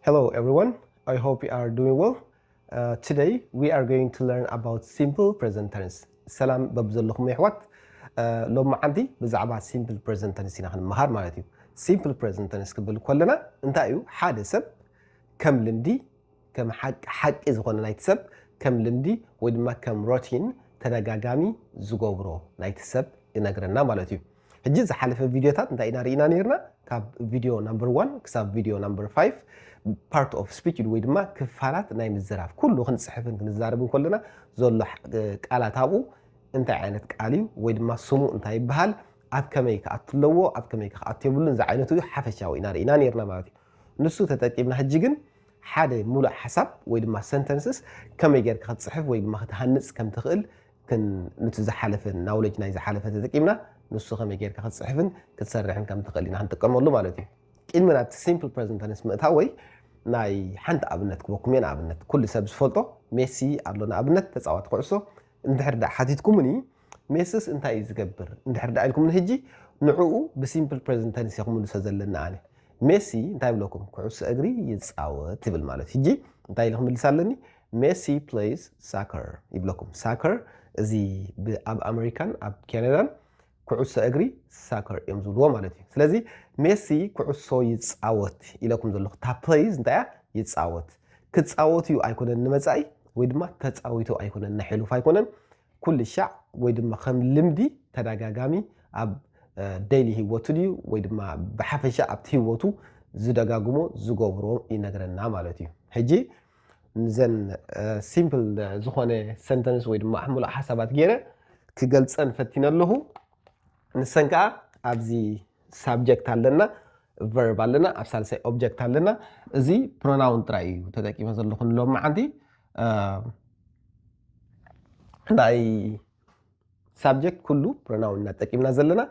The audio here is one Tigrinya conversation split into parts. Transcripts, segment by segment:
Hello everyone, I hope you are doing well. Uh, today we are going to learn about simple present tense. ሰላም በብዘለኹም የሕዋት ሎም መዓንቲ ብዛዕባ ሲምፕል ፕሬዘንት ተንስ ኢና ክንመሃር ማለት እዩ ሲምፕል ፕሬዘንት ተንስ ክብል ከለና እንታይ እዩ ሓደ ሰብ ከም ልምዲ ከም ሓቂ ዝኾነ ናይቲ ሰብ ከም ልምዲ ወይ ድማ ከም ሮቲን ተደጋጋሚ ዝገብሮ ናይቲ ሰብ ይነግረና ማለት እዩ ሕጂ ዝሓለፈ ቪድዮታት እንታይ ኢና ርኢና ነርና ካብ ቪድዮ ናምበር ዋን ክሳብ ቪድዮ ናምበር ፋይቭ ፓርት ኦፍ ስፒች ወይ ድማ ክፋላት ናይ ምዝራብ ኩሉ ክንፅሕፍን ክንዛረብን ከለና ዘሎ ቃላት ኣብኡ እንታይ ዓይነት ቃል እዩ ወይ ድማ ስሙ እንታይ ይበሃል ኣብ ከመይ ክኣቱ ኣለዎ ኣብ ከመይ ክኣቱ የብሉን ዝዓይነቱ እዩ ሓፈሻዊ ኢና ርኢና ነርና ማለት እዩ ንሱ ተጠቂምና ሕጂ ግን ሓደ ሙሉእ ሓሳብ ወይ ድማ ሰንተንስስ ከመይ ጌርካ ክትፅሕፍ ወይ ድማ ክትሃንፅ ከም ትኽእል ግን ኑቲ ዝሓለፈ ናውለጅ ናይ ዝሓለፈ ተጠቂምና ንሱ ከመይ ጌርካ ክትጽሕፍን ክትሰርሕን ከም ትኽእል ኢና ክንጥቀመሉ ማለት እዩ ቅድሚ ናብቲ ሲምፕል ፕረዘንት ተንስ ምእታው ወይ ናይ ሓንቲ ኣብነት ክበኩም እየ ንኣብነት ኩሉ ሰብ ዝፈልጦ ሜሲ ኣሎ ንኣብነት ተፃዋቲ ኩዕሶ እንድሕር ዳኣ ሓቲትኩምኒ ሜስስ እንታይ እዩ ዝገብር እንድሕር ዳኣ ኢልኩምኒ ሕጂ ንዕኡ ብሲምፕል ፕረዘንት ተንስ እየ ክምልሶ ዘለና ኣነ ሜሲ እንታይ ብለኩም ኩዕሶ እግሪ ይፃወት ይብል ማለት ሕጂ እንታይ ኢለ ክምልስ ኣለኒ ሜሲ ፕለይስ ሳከር ይብለኩም ሳከር እዚ ኣብ ኣመሪካን ኣብ ካናዳን ኩዕሶ እግሪ ሳከር እዮም ዝብልዎ ማለት እዩ ስለዚ ሜሲ ኩዕሶ ይፃወት ኢለኩም ዘለኹ እታ ፕለይዝ እንታይ እያ ይፃወት ክፃወት እዩ ኣይኮነን ንመፃኢ ወይ ድማ ተፃዊቱ ኣይኮነን ንሕሉፍ ኣይኮነን ኩሉ ሻዕ ወይ ድማ ከም ልምዲ ተደጋጋሚ ኣብ ደይሊ ህይወቱ ድዩ ወይ ድማ ብሓፈሻ ኣብቲ ህይወቱ ዝደጋግሞ ዝገብሮ ይነግረና ማለት እዩ ሕጂ ንዘን ሲምፕል ዝኾነ ሰንተንስ ወይ ድማ ሙሉእ ሓሳባት ገይረ ክገልፀን ፈቲነ ኣለኹ። ንሰን ከዓ ኣብዚ ሳብጀክት ኣለና፣ ቨርብ ኣለና፣ ኣብ ሳልሳይ ኦብጀክት ኣለና። እዚ ፕሮናውን ጥራይ እዩ ተጠቂመ ዘለኹ ንሎሚ መዓንቲ። ናይ ሳብጀክት ኩሉ ፕሮናውን ኢና ተጠቂምና ዘለና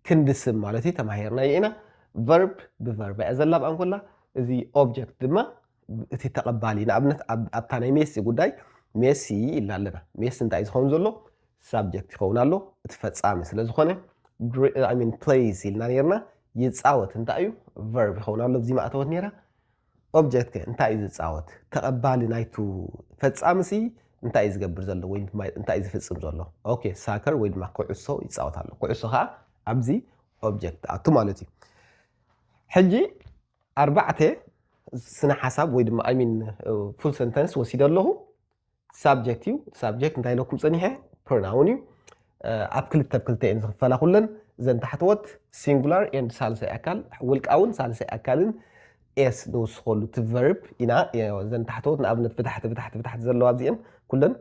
ክንዲ ስም ማለት እዩ ተማሂርናዮ ኢና። ቨርብ ብቨርብ እያ ዘላብኣ እንኮላ እዚ ኦብጀክት ድማ እቲ ተቐባሊ ንኣብነት ኣብታ ናይ ሜሲ ጉዳይ ሜሲ ኢልና ኣለና ሜሲ እንታይ ዝኸውን ዘሎ ሳብጀክት ይኸውን ኣሎ እቲ ፈጻሚ ስለ ዝኾነ ሚን ፕሌይስ ኢልና ነርና ይፃወት እንታይ እዩ ቨርብ ይኸውን ኣሎ እዚ ማእተወት ነራ ኦብጀክት ከ እንታይ እዩ ዝፃወት ተቐባሊ ናይቱ ፈጻሚ ሲ እንታይ እዩ ዝገብር ዘሎ ወይ እንታይ እዩ ዝፍፅም ዘሎ ኦኬ ሳከር ወይ ድማ ኩዕሶ ይፃወት ኣሎ ኩዕሶ ከዓ ኣብዚ ኦብጀክት ኣቱ ማለት እዩ ሕጂ ኣርባዕተ ስነ ሓሳብ ወይ ድማ ኣይ ሚን ፉል ሰንተንስ ወሲደ ኣለኹ ሳብጀክት እዩ ሳብጀክት እንታይ ኢለኩም ፀኒሐ ፕሮናውን እዩ ኣብ ክልተ ብ ክልተ እየን ዝኽፈላ ኩለን እዘን ታሕተወት ሲንጉላር ኤንድ ሳልሳይ ኣካል ውልቃውን ሳልሳይ ኣካልን ኤስ ንውስኸሉ እቲ ቨርብ ኢና እዘን ታሕተወት ንኣብነት ብታሕቲ ብታሕቲ ብታሕቲ ዘለዋ ኣብዚኤን ኩለን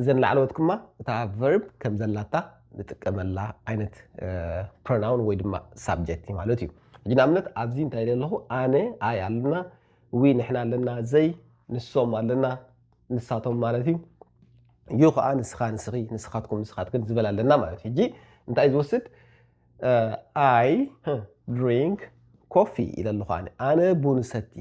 እዘን ላዕለዎት ክማ እታ verb ከም ዘላታ ንጥቀመላ ዓይነት pronoun ወይ ድማ subject እዩ ማለት እዩ። ሕጂ ንኣብነት ኣብዚ እንታይ ኢለ ኣለኹ ኣነ ኣይ ኣለና ዊ ንሕና ኣለና ዘይ ንሶም ኣለና ንሳቶም ማለት እዩ ዩ ከዓ ንስኻ ንስኺ ንስኻትኩም ንስኻትክን ዝበል ኣለና ማለት እዩ። ሕጂ እንታይ እዩ ዝወስድ ኣይ ድሪንክ ኮፊ ኢለ ኣለኹ ኣነ ኣነ ቡን እሰቲ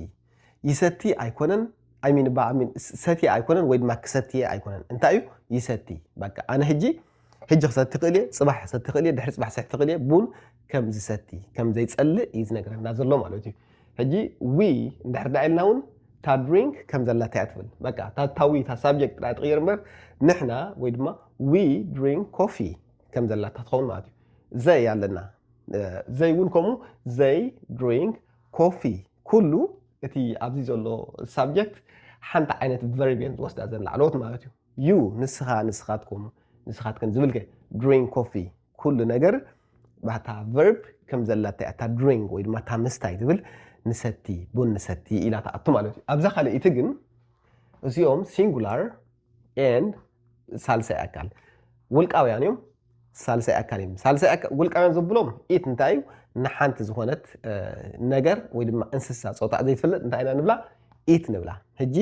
ይሰቲ ኣይኮነን ኣይ ሚን ባኣ ሚን ሰትየ ኣይኮነን ወይ ድማ ክሰትየ ኣይኮነን እንታይ እዩ ይሰቲ በቃ ኣነ ሕጂ ሕጂ ክሰቲ ይኽእል እየ ፅባሕ ክሰቲ ይኽእል እየ ድሕሪ ፅባሕ ሰቲ ይኽእል እየ ቡን ከም ዝሰቲ ከም ዘይፀልእ እዩ ዝነግረና ዘሎ ማለት እዩ ሕጂ ዊ እንድሕር ዳ ኢልና እውን እታ ድሪንክ ከም ዘላታ እያ ትብል በቃ እታ ታዊ እታ ሳብጀክት ጥራይ ትቕይር እምበር ንሕና ወይ ድማ ዊ ድሪንክ ኮፊ ከም ዘላታ ትኸውን ማለት እዩ ዘይ ኣለና ዘይ እውን ከምኡ ዘይ ድሪንክ ኮፊ ኩሉ እቲ ኣብዚ ዘሎ ሳብጀክት ሓንቲ ዓይነት ቨርብ እየን ዝወስዳ ዘን ላዕለዎት ማለት እዩ ዩ ንስኻ ንስኻትኩም ንስኻትክን ዝብል ከ ድሪንግ ኮፊ ኩሉ ነገር ባታ ቨርብ ከም ዘላታ እያ እታ ድሪንግ ወይ ድማ እታ ምስታይ ትብል ንሰቲ ቡን ንሰቲ ኢላ ትኣቱ ማለት እዩ ኣብዛ ካልኣይቲ ግን እዚኦም ሲንጉላር and ሳልሳይ ኣካል ውልቃውያን እዮም ሳልሳይ ኣካል እዮም ሳልሳይ ኣካል ውልቃውያን ዝብሎም ኢት እንታይ እዩ ንሓንቲ ዝኾነት ነገር ወይ ድማ እንስሳ ፆታ ዘይትፈልጥ እንታይ ኢና ንብላ ኢት ንብላ ሕጂ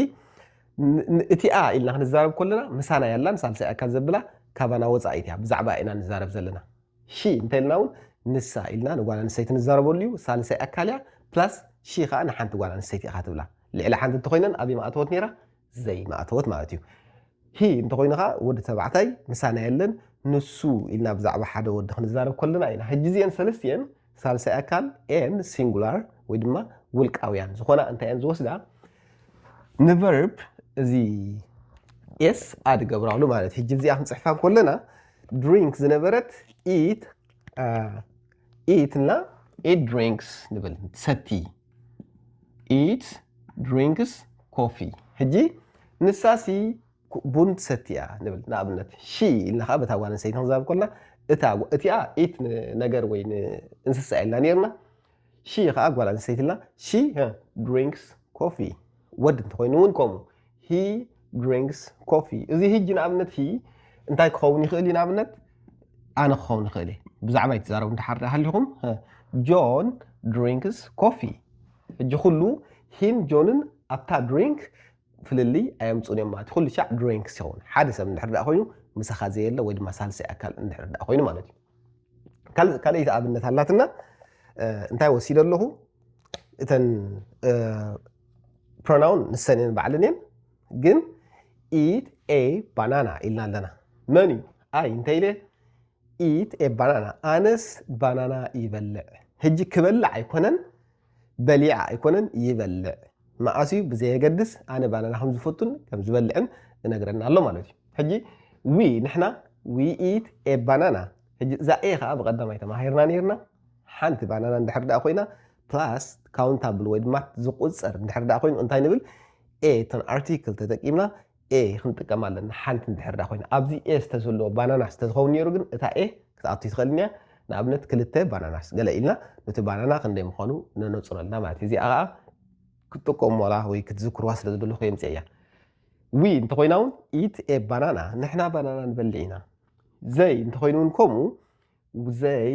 እቲኣ ኢልና ክንዛረብ ከለና ምሳና ያላን ሳልሳይ ኣካል ዘብላ ካባና ወፃኢት እያ ብዛዕባ ኢና ንዛረብ ዘለና ሺ እንታይ ኢልና እውን ንሳ ኢልና ንጓል ኣንስተይቲ ንዛረበሉ እዩ ሳልሳይ ኣካል እያ ፕላስ ሺ ከዓ ንሓንቲ ጓል ኣንስተይቲ ኢኻ ትብላ ልዕሊ ሓንቲ እንተኮይነን ኣበይ ማእተወት ነይራ ዘይማእተወት ማለት እዩ። ሂ እንተኾይኑ ከኣ ወዲ ተባዕታይ ምሳና የለን ንሱ ኢልና ብዛዕባ ሓደ ወዲ ክንዛረብ ከለና ኢና። ሕጂ እዚኤን ሰለስቲኤን ሳልሳይ ኣካል ኤን ሲንጉላር ወይ ድማ ውልቃውያን ዝኾና እንታይ እየን ዝወስዳ ንቨርብ እዚ ኤስ ኣድ ገብራሉ ማለት ሕጂ እዚኣ ክንፅሕፋ ከለና ድሪንክ ዝነበረት ኢት ኢት እና ኢት ድሪንክስ ንብል ሰቲ ኢት ድሪንክስ ኮፊ ሕጂ ንሳሲ ቡን ትሰቲ እያ ንብል ንኣብነት ሺ ኢልና ከዓ በታ ጓል ኣንስተይቲ ክንዛረብ ኮና እታ እቲኣ ኢት ነገር ወይ እንስሳ ኢልና ነርና ሺ ከዓ ጓል ኣንስተይቲ ኢልና ሺ ድሪንክስ ኮፊ ወድ እንተኾይኑ እውን ከምኡ። He drinks coffee። እዚ he ጂ ንኣብነት he እንታይ ክኸውን ይኽእል እዩ ንኣብነት ኣነ ክኸውን ይኽእል እየ ብዛዕባ ይትዛረቡ እንድሓር ሃሊኹም ጆን ድሪንክስ ኮፊ ሕጂ ኩሉ ሂን ጆንን ኣብታ ድሪንክ ፍልልይ ኣየምፁን እዮም ማለት ኩሉ ሻዕ ድሪንክስ ይኸውን ሓደ ሰብ እንድሕር ዳኣ ኮይኑ ምሳኻ ዘየለ ወይ ድማ ሳልሳይ ኣካል እንድሕር ዳኣ ኮይኑ ማለት እዩ ካልኣይቲ ኣብነት ኣላትና እንታይ ወሲደ ኣለኹ እተን ፕሮናውን ንሰን እየን ባዕለን እየን ግን ኢት ኤ ባናና ኢልና ኣለና መን እዩ ኣይ እንታይ ኢለ ኢት ኤ ባናና ኣነስ ባናና ይበልዕ ሕጂ ክበልዕ ኣይኮነን በሊዐ ኣይኮነን ይበልዕ መዓስ እዩ ብዘየገድስ ኣነ ባናና ከም ዝፈቱን ከም ዝበልዕን እነግረና ኣሎ ማለት እዩ ሕጂ ዊ ንሕና ዊ ኢት ኤ ባናና ሕጂ እዛ ኤ ከዓ ብቀዳማይ ተማሂርና ነርና ሓንቲ ባናና እንድሕር ደኣ ኮይና ፕላስ ካውንታብል ወይ ድማ ዝቁፀር እንድሕር ደኣ ኮይኑ እንታይ ንብል ኤ ተን ኣርቲክል ተጠቂምና a ክንጥቀም ኣለና ሓንቲ እንድሕር ዳኣ ኮይና ኣብዚ a ዝተዘለዎ ባናናስ ተዝኸውን ነይሩ ግን እታ a ክትኣቱ ኣይትኽእልን እያ ንኣብነት ክልተ ባናናስ ገለ ኢልና ነቲ ባናና ክንደይ ምዃኑ ነነጽረልና ማለት እዩ እዚኣ ከዓ ክትጥቀሙላ ወይ ክትዝክርዋ ስለ ዝደለኹ የምፅእ እያ ዊ እንተኾይና እውን ኢት ኤ ባናና ንሕና ባናና ንበልዕ ኢና ዘይ እንተኾይኑ እውን ከምኡ ዘይ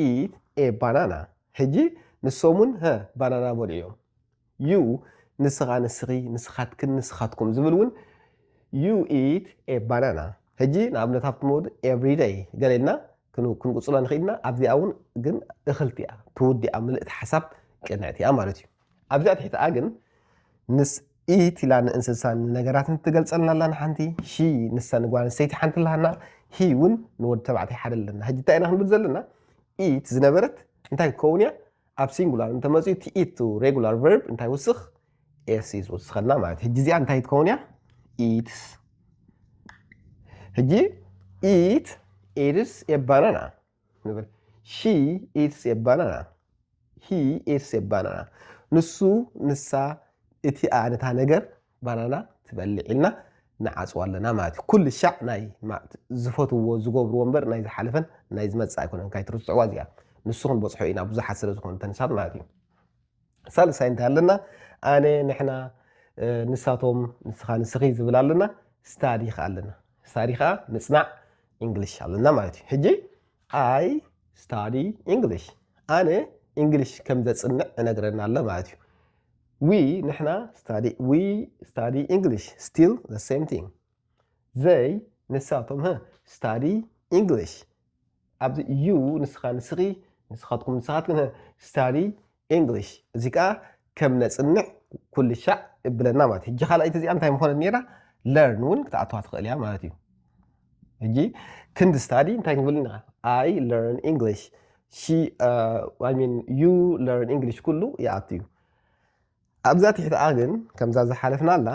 ኢት ኤ ባናና ሕጂ ንሶም እውን ባናና በልዑ እዮም ዩ፣ ንስኻ፣ ንስኺ፣ ንስኻትክን፣ ንስኻትኩም ዝብል እውን ዩ ኢት ኤ ባናና። ሕጂ ንኣብነት ኣብቲ መወድ ኤቭሪ ደይ ገለ ኢልና ክንቅጽሎ ንኽእል ኢና፣ ኣብዚኣ እውን ግን እኽልቲ እያ ትውዲኣ፣ ምልእቲ ሓሳብ ቅንዕቲ እያ ማለት እዩ። ኣብዚኣ ትሕቲኣ ግን ምስ ኢት ኢላ ንእንስሳን ንነገራትን ትገልጸልና ኣላ ንሓንቲ፣ ሺ ንሳ ንጓል ኣንስተይቲ ሓንቲ ኣለሃና፣ ሂ እውን ንወዲ ተባዕታይ ሓደ ኣለና። ሕጂ እንታይ ኢና ክንብል ዘለና? ኢት ዝነበረት እንታይ ክትከውን እያ? ኣብ ሲንጉላር እንተመፅኡ እቲ ኢት ሬጉላር ቨርብ እንታይ ውስኽ ኤስ እዩ ዝውስኸልና ማለት ሕጂ እዚኣ እንታይ ትኸውን እያ ኢትስ ሕጂ ኢት ኢትስ ኤ ባናና ንብል ሺ ኢትስ ኤ ባናና ሂ ኢትስ ኤ ባናና ንሱ ንሳ እቲ ኣነታ ነገር ባናና ትበልዕ ኢልና ንዓጽዋ ኣለና ማለት እዩ ኩሉ ሻዕ ናይ ዝፈትዎ ዝገብርዎ እምበር ናይ ዝሓለፈን ናይ ዝመጽእ ኣይኮነን ካይትርስዕዋ እዚኣ ንሱ ክንበጽሖ ኢና ብዙሓት ስለ ዝኾኑ ተንሳት ማለት እዩ ሳልሳይ እንታይ ኣለና ኣነ ንሕና ንሳቶም ንስኻ ንስኺ ዝብል ኣለና ስታዲ ከዓ ኣለና ስታዲ ከዓ ምፅናዕ እንግሊሽ ኣለና ማለት እዩ ሕጂ ኣይ ስታዲ እንግሊሽ ኣነ እንግሊሽ ከም ዘፅንዕ እነግረና ኣሎ ማለት እዩ We ንሕና study we study English still the same thing they ንሳቶም ህ study English ኣብዚ you ንስኻ ንስኺ ንስኻትኩም ንስኻትክን ህ study English እዚ ከዓ ከም ነፅንዕ ኩሉ ሻዕ እብለና ማለት እዩ። ሕጂ ካልኣይቲ እዚኣ እንታይ ምኾነት ነይራ ለርን እውን ክትኣተዋ ትኽእል እያ ማለት እዩ። ሕጂ ክንዲ ስታዲ እንታይ ክንብል ኢና ኣይ ለርን ኢንግሊሽ ሲ ኣይ ሚን ዩ ለርን ኢንግሊሽ ኩሉ ይኣቱ እዩ ኣብዛ ትሕትኣ ግን ከምዛ ዝሓለፍናላ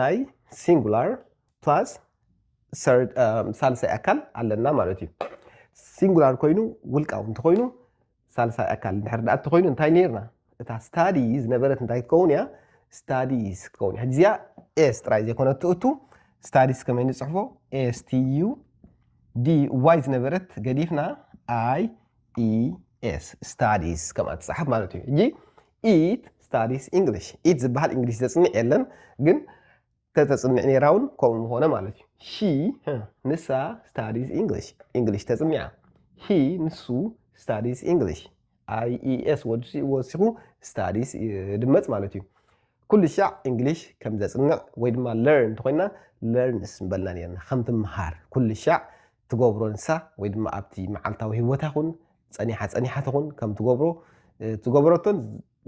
ናይ ሲንጉላር ፕላስ ሳልሳይ ኣካል ኣለና ማለት እዩ ሲንጉላር ኮይኑ ውልቃዊ እንተኮይኑ ሳልሳይ ኣካል ድሕር ዳኣ እተኮይኑ እንታይ ነርና እታ ስታዲ ዝነበረት እንታይ ክትከውን እያ ስታዲስ ክትከውን እያ ሕጂ እዚኣ ኤስ ጥራይ ዘይኮነ ትእቱ ስታዲስ ከመይ ንፅሕፎ ኤስቲዩ ዲ ዋይ ዝነበረት ገዲፍና ኣይ ኢ ኤስ ስታዲስ ከምኣ ትፅሓፍ ማለት እዩ ሕጂ ኢት ስታዲስ ኢንግሊሽ ኢት ዝበሃል እንግሊሽ ዘፅንዕ የለን ግን ተተፅንዕ ነይራ እውን ከምኡ ምኾነ ማለት እዩ ሺ ንሳ ስታዲስ ኢንግሊሽ ኢንግሊሽ ተፅኒዓ ሂ ንሱ ስታዲስ ኢንግሊሽ IES ወሲኹ studies ይድመጽ ማለት እዩ። ኩሉ ሻዕ እንግሊሽ ከም ዘጽንዕ ወይ ድማ learn እንተኾይንና learns ምበልና ኔርና። ከም ትምሃር ኩሉ ሻዕ ትገብሮ ንሳ ወይ ድማ ኣብቲ መዓልታዊ ህይወታ ይኹን ጸኒሓ ጸኒሓ ትኹን ከም ትገብሮ ትገብረቶን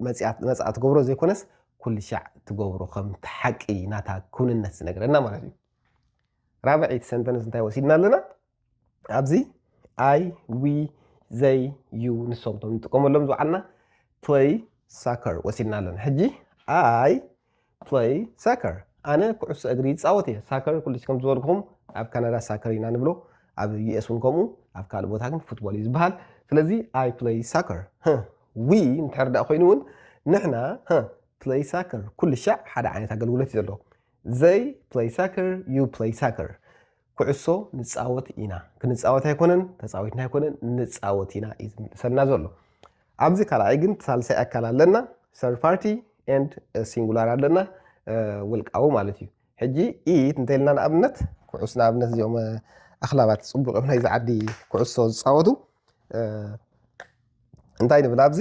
መጽኣ መጽኣ ትገብሮ ዘይኮነስ ኩሉ ሻዕ ትገብሮ ከም ሓቂ ናታ ክውንነት ዝነግረና ማለት እዩ። ራብዒት ሰንተንስ እንታይ ወሲድና ኣለና? ኣብዚ ኣይ ዊ ዘይ ዩ ንሶም ቶም ንጥቀመሎም ዝውዓልና ፕለይ ሳከር ወሲድና ኣለና ሕጂ ኣይ ፕለይ ሳከር ኣነ ኩዕሶ እግሪ ይፃወት እየ ሳከር ኩልሽ ከም ዝበልኩም ኣብ ካናዳ ሳከር ኢና ንብሎ ኣብ ዩኤስ እውን ከምኡ ኣብ ካልእ ቦታ ግን ፉትቦል እዩ ዝበሃል ስለዚ ኣይ ፕለይ ሳከር ዊ እንድሕር ዳኣ ኮይኑ እውን ንሕና ፕለይ ሳከር ኩሉ ሻዕ ሓደ ዓይነት ኣገልግሎት እዩ ዘለዎ ዘይ ፕለይ ሳከር ዩ ፕለይ ሳከር ኩዕሶ ንፃወት ኢና፣ ክንፃወት ኣይኮነን፣ ተፃዊትና ኣይኮነን፣ ንፃወት ኢና እዩ ዝምልሰልና ዘሎ። ኣብዚ ካልኣይ ግን ሳልሳይ ኣካል ኣለና፣ ሰርድ ፓርቲ ኤንድ ሲንጉላር ኣለና፣ ውልቃዊ ማለት እዩ። ሕጂ ኢት እንተኢልና ንኣብነት ኩዕስ ንኣብነት እዚኦም ኣኽላባት ፅቡቅ እዮም ናይዚ ዓዲ ኩዕሶ ዝፃወቱ እንታይ ንብል ኣብዚ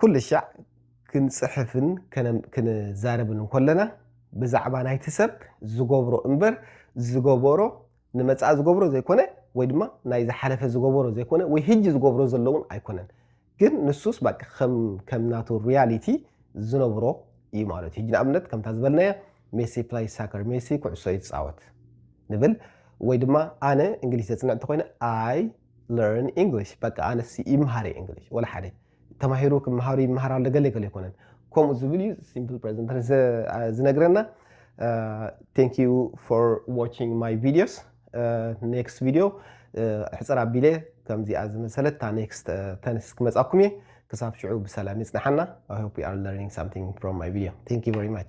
ኩልሻዕ ክንጽሕፍን ክንዛረብን እንኮለና ብዛዕባ ናይቲ ሰብ ዝገብሮ እምበር ዝገበሮ ንመጻኢ ዝገብሮ ዘይኮነ ወይ ድማ ናይ ዝሓለፈ ዝገበሮ ዘይኮነ ወይ ህጂ ዝገብሮ ዘሎ እውን ኣይኮነን ግን ንሱስ ባቃ ከም ከም ናቱ ሪያሊቲ ዝነብሮ እዩ ማለት እዩ ህጂ ንኣብነት ከምታ ዝበልናያ ሜሲ ፕላይ ሳከር ሜሲ ኩዕሶ ይጻወት ንብል ወይ ድማ ኣነ እንግሊዝ ዘጽንዕ እንተኮይነ ኣይ ለርን ኢንግሊሽ በቃ ኣነስ ይምሃር እየ እንግሊሽ ወላ ሓደ ተማሂሩ ክመሃሩ ይመሃር ኣሎ ገለ ገለ ኣይኮነን ከምኡ ዝብል እዩ ሲምፕል ፕሬዘንት ተንስ ዝነግረና ቴንክ ዩ ፎር ዋቺንግ ማይ ቪዲዮስ ኔክስት ቪዲዮ ሕፅር ኣቢለ ከምዚኣ ዝመሰለት እታ ኔክስት ተንስ ክመፃኩም እየ ክሳብ ሽዑ ብሰላም ይፅናሓና ኣይ ሆፕ ዩ ኣር ለርኒንግ ሳምቲንግ ፍሮም ማይ ቪዲዮ ቴንክ ዩ ቨሪ ማች